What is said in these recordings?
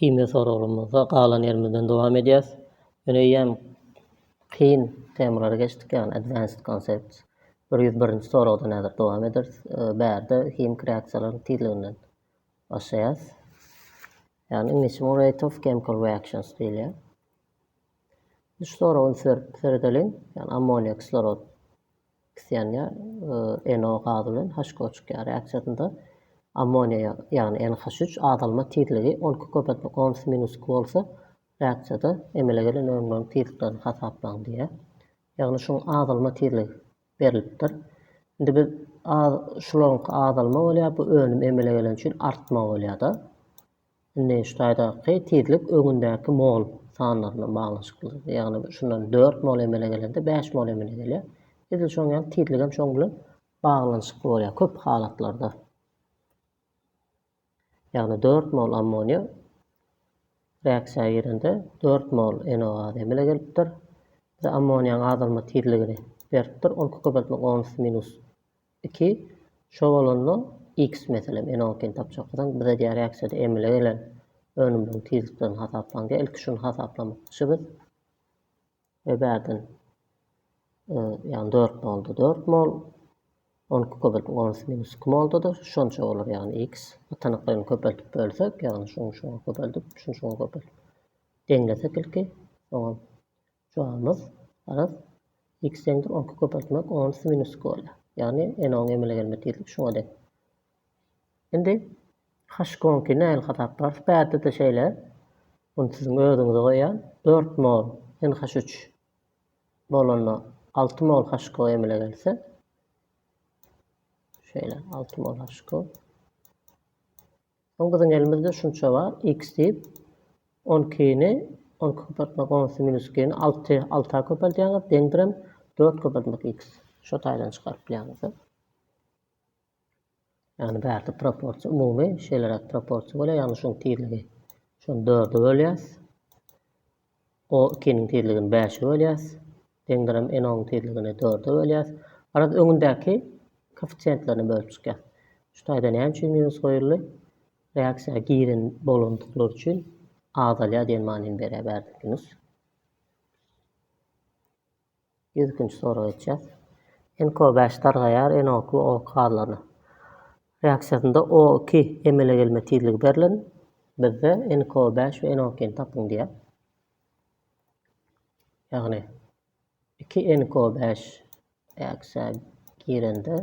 Himiýa soraglarymyza galan ýerimizden dowam edýäs. Ýöne eýýäm kyn temalara geçdik, ýagny advanced concepts. Bir ýüz birinji soragdan häzir dowam ederis. Bärde himiki reaksiýalaryň tizliginden başlaýas. Ýagny iňlisçe muňa rate of chemical reactions diýilýär. Şu soraga üns berip seredeliň. Ýagny ammoniýa, kislorod Kisiýanyýa NO gazy bilen HCOçykýa reaksiýasynda ammoniýa, ýagny NH3, azalma tizligi on iki köpeltmek on iki minus iki bolsa, reaksiýada emele gelen önümleriň tizliklerini hasaplaň diýýär. Ýagny şuň azalma tizligi berlipdir. Indi biz şularyňky azalma bolýar, bu önüm emele gelen üçin artma bolýar-da. Indi şu taýdaky tizlik öňündäki mol sanlar bilen baglanyşykly. Ýagny şundan dört mol emele gelende bäş mol emele gelýär. Edil şoň ýaly tizlik hem şoň bilen baglanyşykly bolýar köp halatlarda. Ýagny dört mol ammoniýa reaksiýa girende dört mol NO gazy emele gelipdir. Bize ammoniýaň azalma tizligini beripdir. Ony köpeltmek onus minus Iki, şo bolanda X meselem inokin tapjagdan bize diýär ýaksede emele gelen önümleriň tizliklerini hasaplaň diýär. Ilki şuny hasaplamakçy biz. Ve bärden ýagny 4 molda 4 mol 12 köbelip 10 minus 2 moldadyr. Şonça bolar ýagny X. Atanaklaryny köpeltip bölsek ýagny şuň şuň köpeltip şuň şuň köpeltip. Deňlesek ilki. Soňam Jogabymyz, Garaz, x deňdir onki köpeltmek on üsti minus iki bolýar. Ýagny n-iň emele gelme tizligi şuňa deň. Indi h-iň onki nähili hasaplarys? Bärde-de şeýle. Muny siziň özüňize goýýan. Dört mol n-h üç bolanda alty mol h-iň emele gelse, şeýle, alty mol h-iň. Soň biziň elimizde şunça bar, x diýip, on ikini on iki köpeltmek on iki minus ikini alty, alta köpeldýäňiz, deňdirem dört köpeltmek x. Şo taýdan çykaryp bilýäňiz-de. Ýagny bärde proporsiýa umumy şeýleräk proporsiýa bolýar, ýagny şuň tizligi şony dörde bölýäs. O ikiniň tizligini bäşe bölýäs. Deňdänem N-oň tizligini dörde bölýäs. Garaz, öňündäki koeffisiýentlerine bölüp çykýas. Şu taýda näme üçin minus goýuldy? Reaksiýa giren bolandyklar üçin azalýar diýen manyny berýär bärde minus. Ýüz ikinji soraga geçýäs. NKO bäş dargaýar NO2 O gazlaryna. Reaksiýasynda O2 emele gelme tizligi berlen, bizde NKO bäş we NO2 ni tapyň diýýär. Ýagny iki NKO bäş reaksiýa girende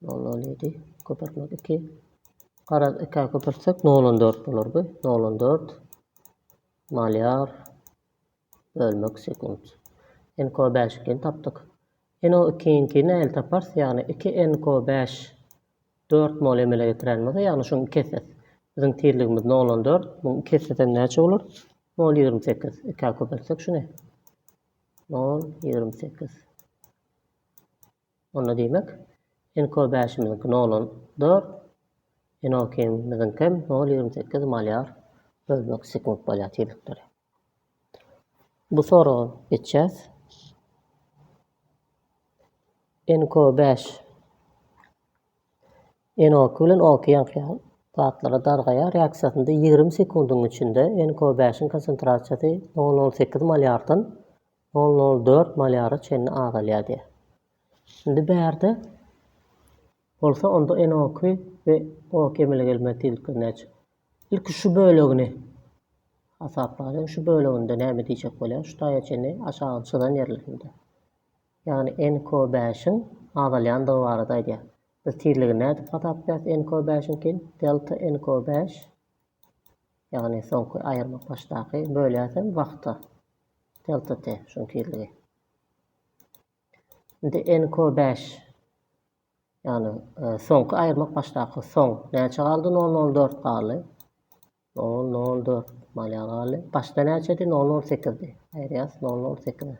Nol on ýedi. Köpürtmek iki. Garaz ikä köpürtsek nol on dört bolar bu. Nol on dört. Malýar. Bölmek sekunt. NKO bäş ikini tapdyk. NO ikiňki nähili taparys? Ýagny iki NKO bäş dört mol emele getiren bolsa, ýagny şuň iki esesi. Biziň tizligimiz nol on dört. Muň iki esesem näçe bolar? Nol ýigrimi sekiz. Ikä köpürtsek şuny. Nol ýigrimi sekiz. Onda diýmek, Enko bäşimiziňki nol on dört, Enokimiziňkem nol ýigrimi sekiz malýar bölmek sekunt bolýar tizlikleri. Bu soraga geçýäs. Enko bäş Enoki bilen oki ýaňky zatlara dargaýar. Reaksiýasynda ýigrimi sekundyň içinde Enko bäşiň konsentrasiýasy nol nol sekiz malýardan Ol nol dört malýara çenli azalýar diýýär. Indi bärde bolsa onda NO2 we O2 emele gelmez diýildikleri näçe? Ilki şu bölegini hasaplalyň. Şu böleginde näme diýjek bolýar? Şu taýa çenli aşagyny çyzan ýerlerinde. Ýagny NKO5-iň azalýandygy barada aýdýar. Biz tizligini nädip hasaplaýarys NKO5-iňki? Delta NKO5 Ýagny soňky aýyrmak başdaky bölýärsiň wagta. Delta T şuň tizligi. Indi NQ 5. Ýagny e, soňky aýyrmak başdaky soň näçe galdy? 004 galdy. 004 malýa galdy. Başda näçedi? 008-di. Aýyrýas 008.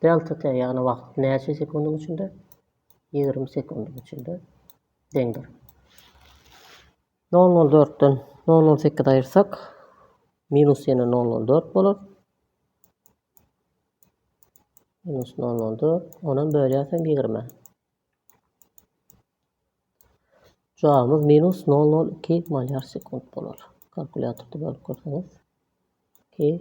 Delta T ýagny wagt näçe sekundyň içinde? 20 sekundyň içinde. deňdir. Nol nol dörtden nol nol sekiz aýyrsak, minus ýene nol nol dört bolar. Minus nol nol dört, onam bölýärsen ýigrime. Cevabımız minus 002 malyar sekund bolar. Kalkulyatorda bölüp görseňiz. 2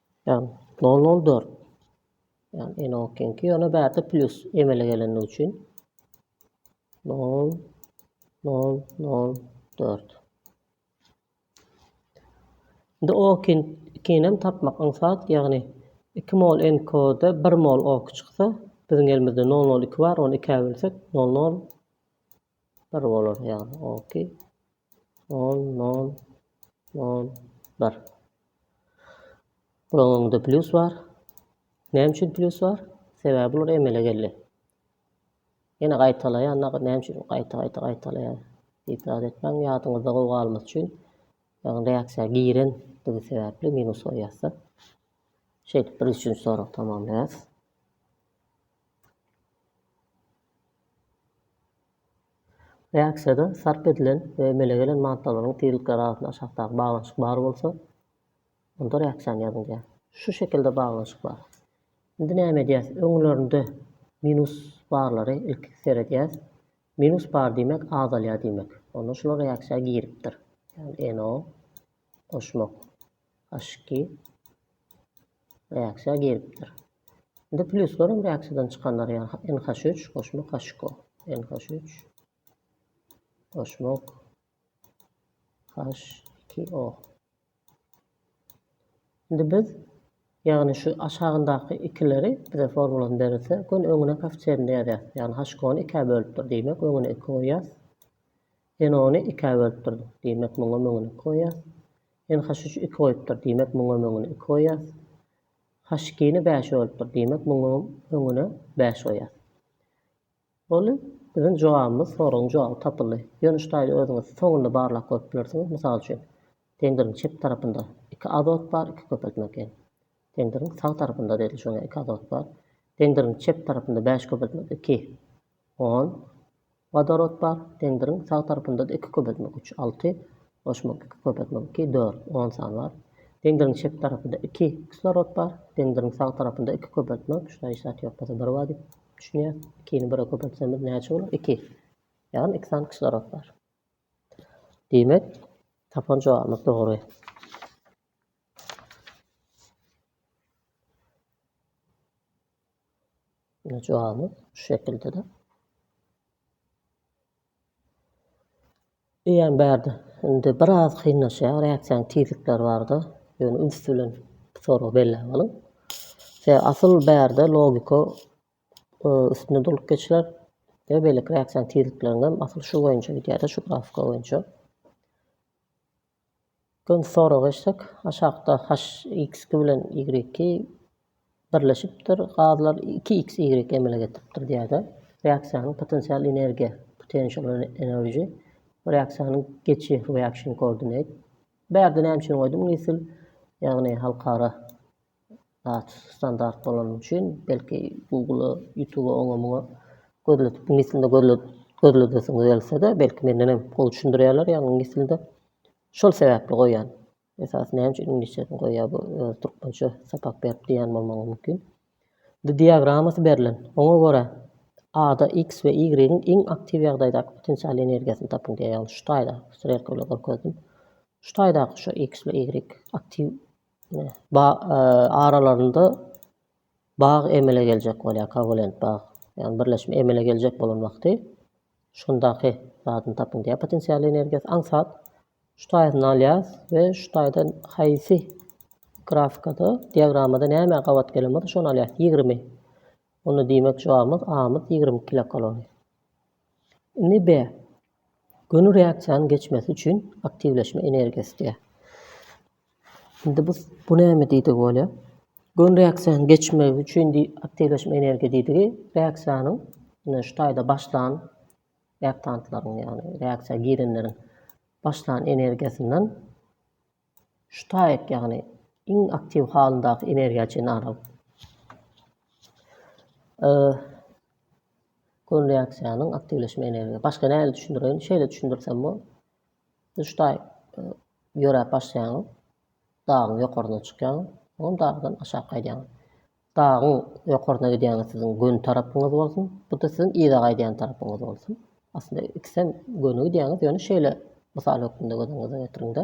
Ýagny, nol, nol, dört. Ýagny, ene okiňki, ýöne bärde plýus emele gelendigi üçin nol, nol, nol, dört. Indi okin ikinem tapmak aňsat, ýagny 2 mol NK-da 1 mol ok çyksa, biziň elimizde 002 bar, ony 2-ä bölsek 00 bir bolar ýagny ok nol nol nol bir bularyň öňünde plyus bar näme üçin plyus bar sebäbi bular emele geldi ýene gaýtalaýan näme üçin gaýta gaýta gaýtalaýan diýip zat etmäň ýadyňyzda gowy galmasy üçin ýagny reaksiýa girendigi sebäpli minus goýýarsyň şeýdip bir üçünji sorag tamamlaýarys Reaksiýada sarp edilen we emele gelen maddalaryň tizlikleri arasynda aşakdaky baglanyşyk bar bolsa, onda reaksiýany ýazyň diýýär. Şu şekilde baglanyşyk bar. Indi näme edýäs? Öňlerinde minus barlary ilki seredýäs. Minus bar diýmek azalýar diýmek. Onda şular reaksiýa giripdir. Ýagny NO goşmak. Aşki reaksiýa giripdir. Indi pluslar hem reaksiýadan çykanlar ýaly NH üç goşmak HCO. NH üç goşmak HCO. Indi biz ýagny şu aşagyndaky ikileri bize formulany berilse, gün öňüne koeffisiýenini ýazýas. Ýagny HCO-ny ikä bölüpdir diýmek, öňüne iki goýýas. NO-ny ikä bölüpdir diýmek, muňa öňüne iki goýýas. Ýene haşyşy iki goýupdyr, diýmek muňam öňüne iki goýýas. Haşykyny bäşe bölüpdir, diýmek muňam öňüne bäş goýýas. Boldy. Biziň jogabymyz, soragyň jogaby tapyldy. Ýöne şu taýda özüňiz soňunda barlap görüp bilersiňiz. Mysal üçin, tendiriň çep tarapynda iki azot bar, iki köpeltme gen. Tendiriň sag tarapynda, edil şoňa iki azot bar. Tendiriň çep tarapynda bäş köpeltme, iki. On, wodorod bar, sendiriň sag tarapynda-da iki köpeltmek üç, alty, goşmak iki, köpeltmek iki, dört, on sany bar. Sendiriň çep tarapynda iki, kislorod bar, sendiriň sag tarapynda iki, köpeltmek, şunda hiç zat ýok bolsa bir bar diýip düşünýäs, ikini bire köpeltsemiz näçe bolar? Iki, ýagny iki sany kislorod bar. Diýmek, tapan jogabymyz dogry. Ine jogabymyz şu şekildede. Eýýäm bärde indi biraz kynlaşýar, reaksiýanyň tizlikleri barda, ýöne üns bilen soragy belläp alyň. Se asyl bärde logika e, üstünde dolup geçiler. Ve beýleki reaksiýanyň tizlikleriniň hem asyl şu boýunça gidýär-de, şu grafika boýunça. Birinji soraga geçsek, aşakda HX-ki bilen Y-ki birleşipdir, gazlar iki X, Y emele getiripdir diýýär-de, reaksiýanyň potensial energiýa, potential energy, reaksiýanyň geçi, reaction coordinate. Bu ýerde näme üçin goýdum, Nisil, ýagny halkara. Zat standart bolany üçin belki Google-a, YouTube-a oňa muňa gözledip iňlis dilinde gözle gözledesiňiz gelse-de belki menden hem gowy düşündirýärler ýagny iňlis dilinde. Şol sebäpli goýýan. Esasy näme üçin iňlisçesini goýýar bu öz türkmençe sapak berip diýýän bolmagy mümkin. Bu diagrammasy berlen. Oňa görä A-da X we Y-iň iň aktiw ýagdaýdaky potensial energiýasyny tapyň diýýär. Ýagny şu taýda strelka bilen görkezdim. Şu taýdaky şu X we Y aktiw Ba aralarynda bag emele geljek bolýar, Kowalent bag. Ýagny birleşme emele geljek bolan wagty şundaky zadyny tapyň diýýär potensial energiýasy. Aňsat şu taýyny alýas we şu taýda haýsy grafikada, diagramada näme gabat gelen bolsa şony alýas. 20. Onda diýmek jogabymyz A-myz 20 kilokalori. Indi B. Göni reaksiýanyň geçmesi üçin aktiwleşme energiýasy diýýär. Indi bu bu näme diýdigi bolýar? Göni reaksiýanyň geçmegi üçin aktiwleşme energiýa diýdigi reaksiýanyň ine şu taýda başlan reaktantlaryň ýagny reaksiýa girenleriň başlan energiýasyndan Şu taýak ýagny iň aktiw halyndaky energiýa çyn aralg. E. Gön reaksiýanyň aktiwleşme energiýa. Başga näle düşündireýin? Şeýle düşündirsem bol. Şu taý e, ýöräp başlaýaň. Dagyň ýokaryna çykýaň. Oňam dagdan aşak gaýdýaň. Dagyň ýokaryna gidýäňiz siziň göni tarapyňyz bolsun, bu-da siziň yza gaýdýan tarapyňyz bolsun. Aslynda ikisem göni gidýäňiz, ýöne şeýle mysal hökmünde göz öňüňize getiriň-de.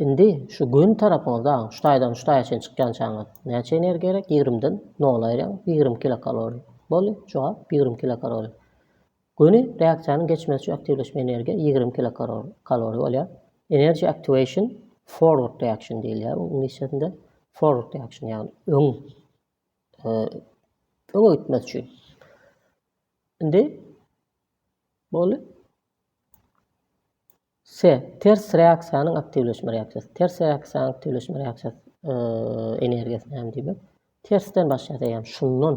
Indi şu göni tarapyňyz dagyň şu taýdan şu taýa çenli çykýançaňyz näçe energiýa gerek? Ýigrimiden nola aýyrýaň, ýigrimi kilokalori. Boldy, jogap ýigrimi kilokalori. Göni reaksiýanyň geçmesi üçin aktiwleşme energiýa ýigrimi kilokalori bolýar. Energy activation forward reaction diýilýär onuň iňlisçesinde. Forward reaction ýagny öň öňe gitmesi üçin. Indi boldy. Se, ters reaksiýanyň aktiwleşme reaksiýasy. Ters reaksiýanyň aktiwleşme reaksiýasy energiýasy näme diýmek? Tersden başlaýar, ýagny şundan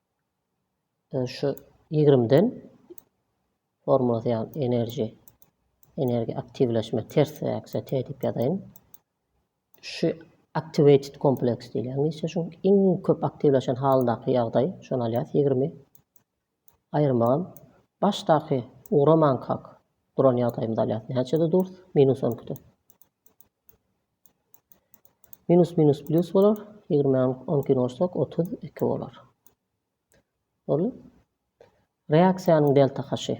Ýöne şu ýigrimden formulasy ýaly enerji energiýa aktiwleşme ters reaksiýa T diýip ýazaýyn. Şu activated kompleks diýilýär. Niçe şu iň köp aktiwleşen halyndaky ýagdaý, şony alýas 20. Aýyrmagam başdaky ugramanka duran ýagdaýymyzy alýas. Näçede durs? Minus 12-de. Minus minus plus bolar. 20 12 ursak 32 bolar. Boldy. Reaksiýanyň delta haşy.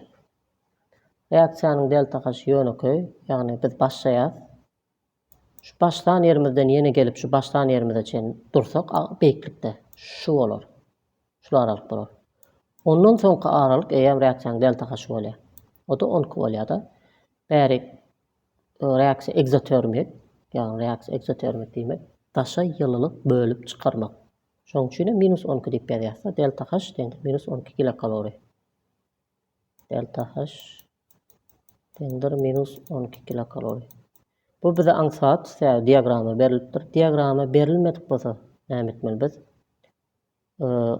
Reaksiýanyň delta haşy ýönekeý, ýagny biz başlaýas. Şu başlan ýerimizden ýene gelip şu başlan ýerimize çen dursak beýiklikde şu bolar. Şu aralyk bolar. Ondan soňky aralyk eýýäm reaksiýanyň delta haşy bolýar. O da 12 bolýar-da. Bäri Reaksiýa ekzotermik, ýagny reaksiýa ekzotermik diýmek, daşa ýylylyk bölüp çykarmak. Şonuň üçin hem minus on iki diýip ýazýarys-da, delta H deňdir minus on iki kilokalori. Delta H deňdir minus on iki kilokalori. Bu bize aňsat, sebäbi diagrama berilipdir. Diagrama berilmedik bolsa näme etmeli biz?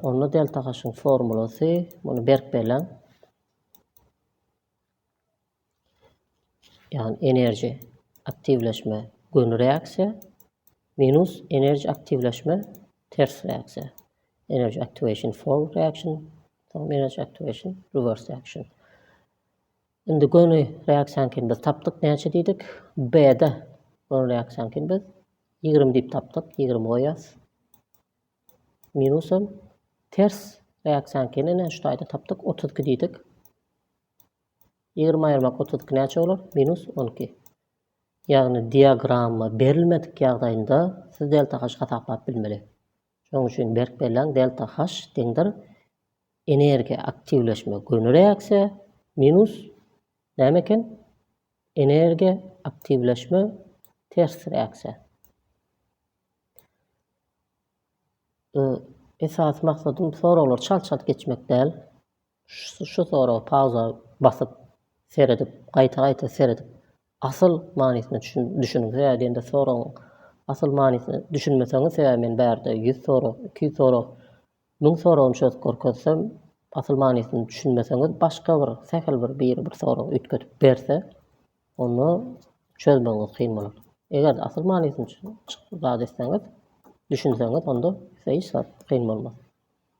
Onda delta haşyň formulasy, muny berk belläň. Yani enerji aktivleşme gönü reaksiýa minus enerji aktivleşme ters reaksiýa. Enerji aktivasyon forward reaksiýa forward enerji aktivasyon reverse reaksiýa. Indi gönü reaksiýany kim biz tapdyk näçe diýdik? B-de gönü reaksiýany kim biz 20 diýip tapdyk. 20 goýas. Minusum ters reaksiýany kim näçe taýda tapdyk? 32 diýdik. Ýigrimi aýyrmak otuz iki näçe bolar? Minus on iki. Ýagny diagramma berilmedik ýagdaýynda siz delta H hasaplap bilmeli. Şonuň üçin berk belläň, delta H deňdir energiýa aktiwleşme göni reaksiýa minus näme eken? Energiýa aktiwleşme ters reaksiýa. Esasy maksadym soraglar çalt-çalt geçmek däl. Şu soragy pauza basyp seredip, gaýta-gaýta seredip, asyl manysyna düşüniň. Sebäbi diýende soragyň asyl manysyna düşünmeseňiz, sebäbi men bärde ýüz sorag, iki ýüz sorag, müň soragyny çözüp görkezsem, asyl manysyna düşünmeseňiz, başga bir, sähel bir biri bir sorag üýtgedip berse, onda çözmegiňiz kyn bolar. Eger-de asyl manysyny zat etseňiz, düşünseňiz, onda size hiç zat kyn bolmaz.